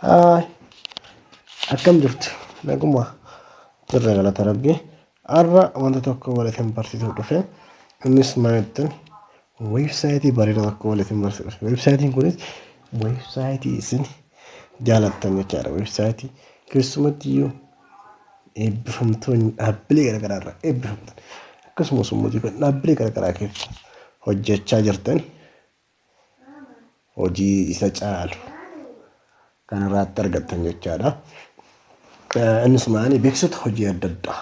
Haay. Akkam jirtu? Naguma. Jirra galata rabbi. Har'a wanta tokko walitin barsiisuuf dhufe. Innis maal jettan? Weebsaayitii bareeda tokko walitin barsiisuuf dhufe. Weebsaayitiin kunis weebsaayitii isin jaalattan jechaadha. Weebsaayitii keessumatti iyyuu eebbifamtoonni dhaabbilee garaagaraa irraa eebbifamtan akkasumas immoo dhaabbilee garaagaraa keessa hojjechaa jirtan hojii isa caalu kan irraatti argattan jechaadha. Innis maali beeksota hojii adda addaa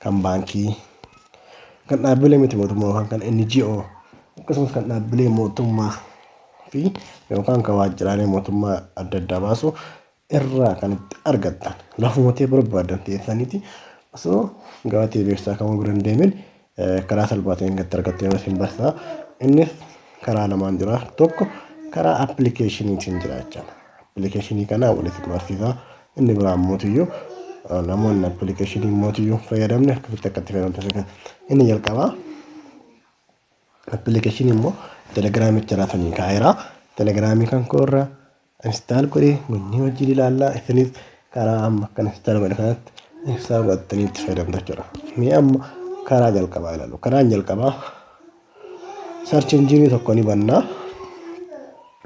kan baankii, kan dhaabbilee miti mootummaa yookaan kan NGO akkasumas kan dhaabbilee mootummaa fi yookaan kan waajjiraalee mootummaa adda addaa baasu irraa kan itti argattan lafuma ta'e barbaadan teessaniiti osoo gabatee beeksisaa kamuu bira hin deemin karaa salphaa ta'een gatti argattu yeroo isin barsiisa. Innis karaa lamaan jira. Tokko karaa appilikeeshiniitiin jira jechaadha. Appilikeeshinii kanaa walitti barsiisa. Inni biraa immoo iyyuu namoonni appilikeeshinii immoo iyyuu fayyadamne akkamitti akka itti fayyadamtu isa kana. Inni jalqabaa appilikeeshinii immoo telegiraamicha irraa sanii kaa'eera. Telegiraamii kan koo irraa install godhe wannii wajjin ilaallaa isinis karaa amma akkan install godhe kanatti ibsaa godhattanii itti fayyadamtu jechuudha. Mee amma karaa jalqabaa ilaalu. Karaan jalqabaa search engine tokko ni bannaa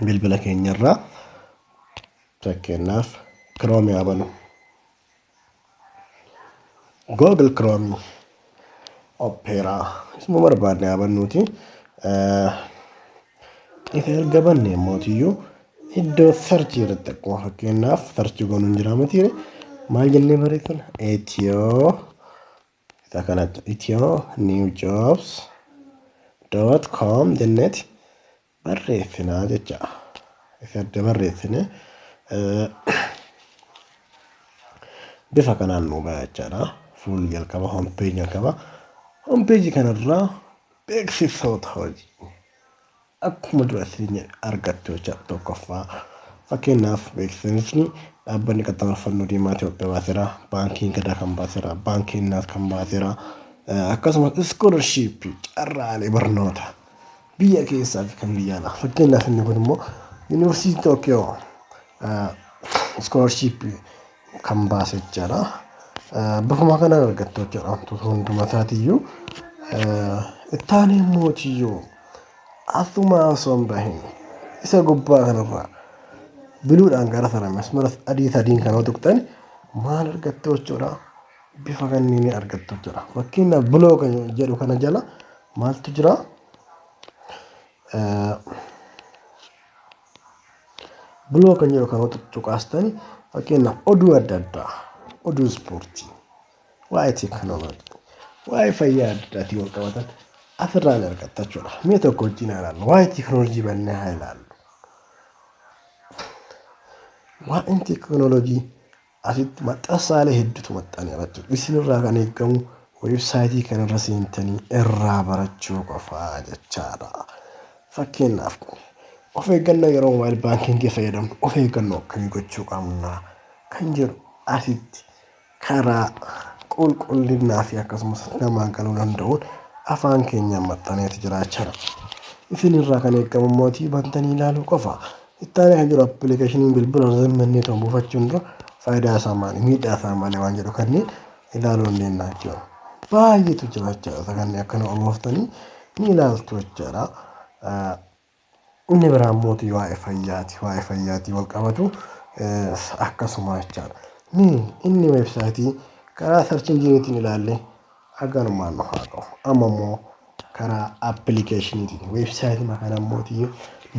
bilbila keenyarraa fakkeenyaaf Chrome haa banu. Google Chrome Opera isuma barbaadne haa bannuuti. Isa erga banne mootiyyuu iddoo sarchii irratti akkuma fakkeenyaaf sarchii goonuu hin jiraama tiire maal jennee barreessina etiyoo isa kanatti etiyoo new jobs dot com jenneeti barreessina jecha isa adda barreessine bifa kanaan nu ba'a jechaadha. Fuulli jalqaba hompeeji jalqaba. Hompeeji kanarraa beeksisoota hojii akkuma dura isin argattu jecha tokkoffaa fakkeenyaaf beeksisni dhaabbanni qaxxaamura fannoo diimaa Itoophiyaa baaseera baankiin gadaa kan baaseera baankiin naas kan baaseera akkasumas iskoolarshipii carraalee barnoota Biyya keessaa fi kan biyya alaa. Fakkeenyaaf inni kun immoo Yuunivarsiitii Tookiyoo iskoolashiippii kan baase jechaadha. Bifuma kanaan argattu jechaadha wantoota hunduma isaatiiyyuu. Itti aanee immoo tiyyoo asuma osoo hin bahin isa gubbaa kanarraa biluudhaan gara sana masmara adii sadiin kana yoo tuqxan maal argattu jechuudha? bifa kanniin argattu jechuudha. Fakkiin blog jedhu kana jala maaltu jira? Blog kan jedhu kana cuqaastani fakkeenyaaf oduu adda addaa, oduu ispoortii, waa'ee teekinooloojii, waa'ee fayyaa adda addaatiin wal qabatan asirraa ni argatta jechuudha. Mee tokko wajjin haa ilaallu. Waa'ee teekinooloojii bannee haa ilaallu. Waa'een teekinooloojii Asitti maxxansaalee hedduutu maxxaneera jechuudha. Isin irraa kan eegamu weebsaayitii kana irra seentanii irraa barachuu qofa jechaadha. Fakkeenyaaf of eeggannoo yeroo moobaayil baankiingii fayyadamnu of eeggannoo akkamii gochuu qabna kan jedhu asitti karaa qulqullinaa fi akkasumas namaan galuu danda'uun afaan keenyaan maxxaneeti jiraachaa dha. Isin irraa kan eegamu immoo bantanii ilaaluu qofa. Itti aanee kan jiru appilikeeshiniin bilbila osoo hin bannee ta'u buufachuun dura faayidaa isaa maali miidhaa isaa maali waan jedhu kanneen ilaaluu dandeenya jechuudha. Baay'eetu jira jechuudha kanneen akkana olooftanii ni ilaaltu jechuudha. Inni biraan mootii waa'ee fayyaati waa'ee fayyaatii wal qabatu akkasuma jechaadha. Inni weebsaayitii karaa sarchii jireetiin ilaallee. Haganumaan nu haa gahu. Amma immoo karaa appilikeeshiniitiin weebsaayitima kana immoo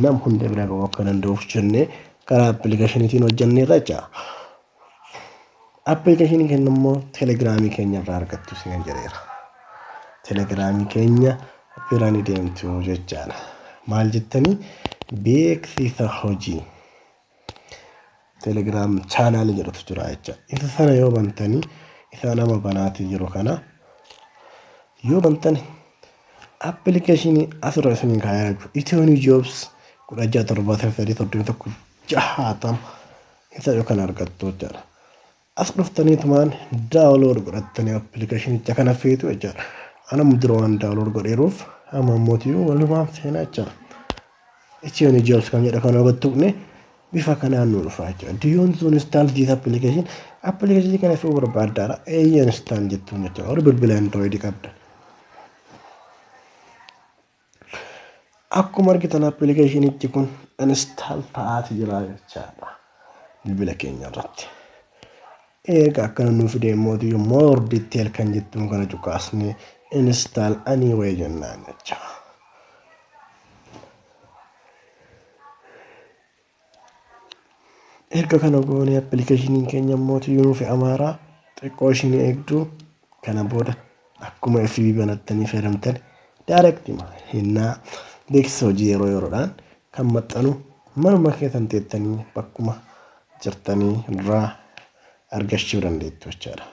nam hunda bira ga'uu akka danda'uuf jennee karaa appilikeeshiniitiin hojjenneerra jecha. Appilikeeshinii keenya immoo telegiraamii keenya irraa argattu isin jedheera. Telegiraamii keenya bira ni deemtu jechaadha. Maal jettanii beeksisa hojii. Telegram channel jedhutu jira jecha. Isa sana yoo bantanii isa nama banaatii jiru kana yoo bantani application asirra isin kaa'ee jiru Ethiopian Jobs kudha ja'a torbaatama sadii soddomii tokko jahaatama isa yoo kan argattu jechaadha. As dhuftaniitumaan download godhattanii appilikeeshinicha kana feetu jechaadha. Anam dura waan download godheeruuf amma ammootiyyuu walumaan feena jechaadha. Itiyoo jobs kan jedha kana irratti tuqne bifa kanaan nu dhufa jechaadha. Do you want to install this application? Appilikeeshinii kana fe'uu barbaaddaadha. Eeyyee install jettuun jechaadha. Warri bilbila android qabdan. Akkuma argitan appilikeeshinichi kun install ta'aati jira jechaadha bilbila keenya irratti. Eega akkana nu fide immoo more detail kan jettuun kana cuqaasne install anyway jennaan jecha. Erga kana goonee appilikeeshiniin keenya immoo yunuu fi amaaraa xiqqoo ishiin eegdu kana booda akkuma FB banattanii fayyadamtan daarektima hennaa beeksisa hojii yeroo yeroodhaan kan maxxanu manuma keessan teettanii bakkuma jirtanii irraa argachuu dandeettu jechaadha.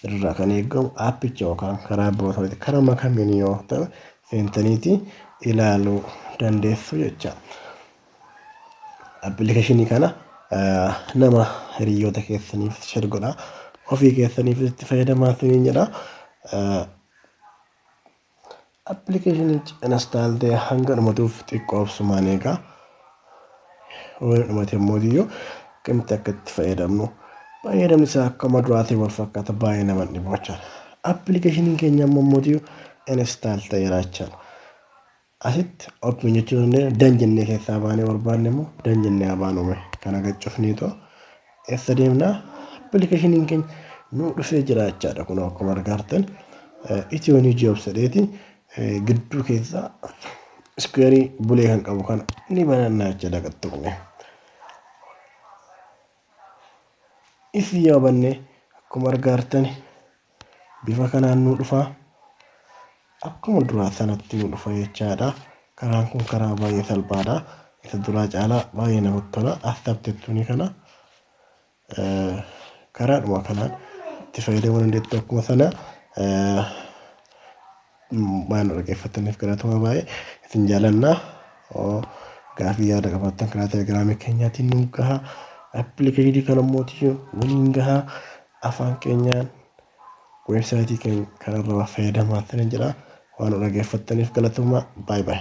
irraa kan eegamu aappicha yookaan karaa birootiin karuma kamiin yoo ta'u seentaniiti ilaaluu dandeessu jecha. Appilikeeshinii kana nama hiriyoota keessaniif share godhaa. Ofii keessaniif itti fayyadamaa isiniin jedha. Appilikeeshinichi install ta'e hanga dhumatuuf xiqqoo obsumaan eegaa. Wayii dhumate immoo diyyoo akkamitti akka itti fayyadamnu fayyadamni isaa akkuma duraatiin wal fakkaata baay'ee nama hin dhibu jechaan. Appilikeeshiniin keenya amma immoo diyyoo install ta'eera jechaan. Asitti open jechuu dandeenya dan jennee keessaa baanee barbaanne immoo dan jennee haa baanu mee kana gad cufnee too. Eessa deemna? Appilikeeshiniin keenya nuu dhufee jira jechaadha. Kun akkuma argaartan Itiyoo Niw Jobs jedheeti gidduu keessa iskuweerii bulee kan qabu kana ni bananna jechaadha gad tuqne. Isin yoo banne akkuma argaartan Bifa kanaan nu dhufa. Akkuma duraa sanatti nu dhufa jechaadha. Karaan kun karaa baay'ee salphaadha. Isa duraa caalaa baay'ee namatti tola. Astabtettuuni kana karaadhuma kanaan itti fayyadamuu dandeettu akkuma sana Waan nu dhaggeeffattaniif galatoomaa baay'ee isin jaalanna. Gaafii yaada qabaattan karaa telegiraamii keenyaatiin nu gaha. Appilikeeshinii kana immoo waliin gaha. Afaan keenyaan weebsaayitii keenya kanarraa fayyadamaa ta'an jira. Waan nu dhaggeeffattaniif galatoomaa baay'ee.